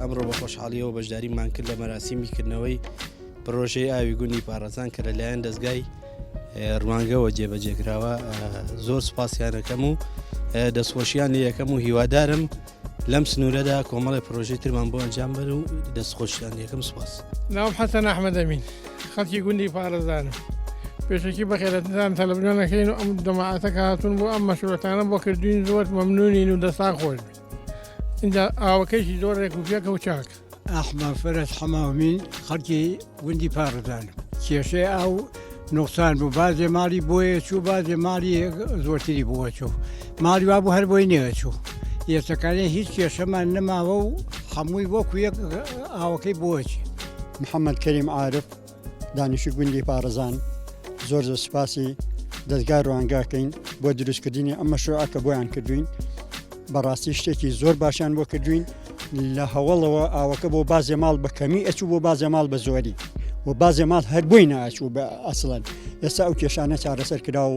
ئەمڕۆ بە خۆشحاڵیەوە بەشداریمان کرد لە مەراسیمی کردنەوەی پرۆژەی ئاوی گونی پارەزان کە لەلایەن دەستگای ڕوانگەوە جێبەجێکراوە زۆر سپاسیانەکەم و دەستخۆشییان لە یەکەم و هیوادارم لەم سنوورەدا کۆمەڵی پرۆژەی ترمان بۆ ئەنجام بەر و دەست خۆشتان یەکەم سپاس ناوم حەسەن ئەحمەدەمین خەڵکی گوندی پارێزانم پێشەکی بەخێرەتان تەلەبگەنەکەین و ئەم دەماعاتە کە هاتون بۆ ئەم مەشورەتانە بۆ کردوین زۆر مەمنونین و دەسان خۆش بێت اینجا ئاوەکەیشی زۆر ڕێک و پێکە و چاکە ئەحمە فەرەج حەماومی خەڵکی گوندی پاڕدان کێشەی ئاو نوقسان بوو بازێ ماڵی بۆیە چوو بازێ ماڵی زۆرتری بووە چوو ماڵی وا بوو هەر بۆی نێوە چوو ئێسەکانی هیچ کێشەمان نەماوە و هەمووی وەکو یەک ئاوەکەی بۆچی محەممەد کەریم عاعرف دانیشی گوندی پارزان زۆر زۆر سپاسی دەستگا ڕوانگاکەین بۆ دروستکردنی ئەم مەشروعە کە بۆیان کردوین بەڕاستی شتێکی زۆر باشیان بۆ کردوین لە هەوڵەوە ئاوەکە بۆ بازێ ماڵ بە کەمی ئەچوو بۆ بازێ ماڵ بە زۆری و بازێ ماڵ هەر بۆی ناچوو بە ئەسڵەن ئێستا ئەو کێشانە چارەسەر کرا و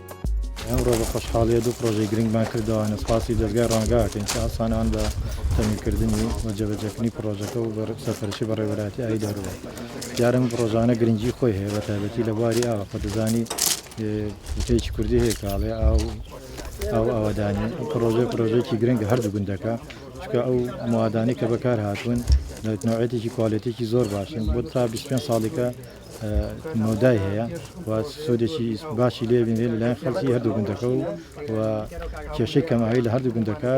ئەمڕۆ بە خۆشحاڵیە دوو پرۆژەی گرنگمان کردەوەوانە سپاسی دەزگای ڕانگاکەین کە ئاسانان بە تەمیکردنی و جێبەجێکردنی پرۆژەکە و بە سەرپەرشی بە ڕێوەراتی ئای دەورەوە دیارم پرۆژانە گرنگی خۆی هەیە بە تایبەتی لە بواری ئاوە کە دەزانی وتەیەکی کوردی هەیە کاڵێ ئاو ئاو ئاوادانی پرۆژە پرۆژێکی گرنگە هەردوو گوندەکە چکە ئەو موادانی کە بەکار هاتوون نوعەتێکی کوالێتێکی زۆر باشن بۆ تا 25 ساڵێکە مەودای هەیە و سودێکی باشی لێ بینرێت لەلایەن خەڵکی هەردوو گوندەکە و و کێشەی کەماوی لە هەردوو گوندەکە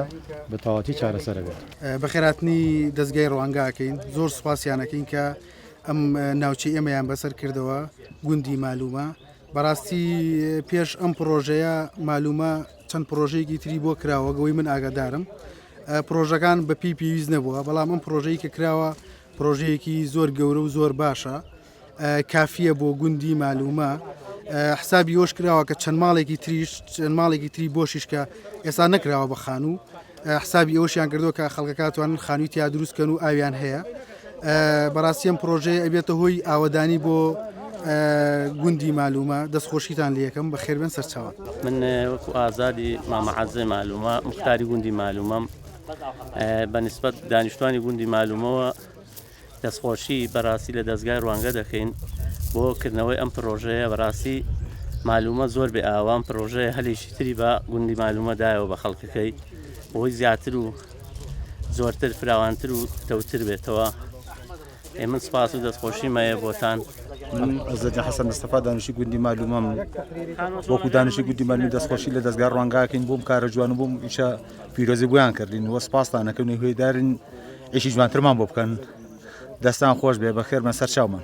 بە تەواتی چارەسەرەبێت بەخێراتنی دەستگای ڕوانگاکەین زۆر سوپاسیانەکەین کە ئەم ناوچەی ئێمەیان بەسەر کردەوە گوندی مالومە بەڕاستی پێش ئەم پرۆژەیە مالومە چەند پرۆژەیەکی تری بۆ کراوە گەوەی من ئاگادارم پرۆژەکان بەپی پێویست نەبووە بەڵام ئەم پرۆژەی کە کراوە پرۆژەیەکی زۆر گەورە و زۆر باشە کافیە بۆ گوندی مالومە حسابی یۆش کراوە کە چەند ماڵێکی تریش چەند ماڵێکی تری بۆشیش کە ئێستا نەکراوە بە خانوو حسابی ئەوشیان کردو کە خەڵکەکاتوان خانوی تیا دروستکەن و ئاویان هەیە بەڕاستیم پرۆژەیە ئەبێتە هۆی ئاوەدانی بۆ گوندی مالومە دەستخۆشیتان لەکەم بە خێربن سەرچاوان من وەکو ئازادی مامەعازێ مالومە مختاری گوندی مالومەم بە نیسبەت دانیشتوانی گوندی مالومەوە دەستخۆشی بەراستی لە دەستگای ڕوانگە دەکەین بۆ کردنەوەی ئەم پرۆژەیە بەراستی مالومە زۆر بێ ئاوام پرۆژەیە هەلێکی تری بە گوندی مالومە دایەوە بە خەڵکەکەی بۆی زیاتر و زۆرتر فراوانتر و تەوتر بێتەوە ئێ من سپاس و دەستخۆشیم هەیە بۆتان من ئەزەجە حەسەن مستەفا دانیشی گوندی مالومەم وەکو دانیشی گوندی مالمی دەستخۆشی لە دەستگار ڕوانگاکەین بۆم کارە جوان بووم ئیشە پیرۆزی بۆیان کردین وە سپاستانەکەن هێدارین ئیشی جوانترمان بۆ بکەن دەستان خۆش بێ بەخێرمە سەر چاومان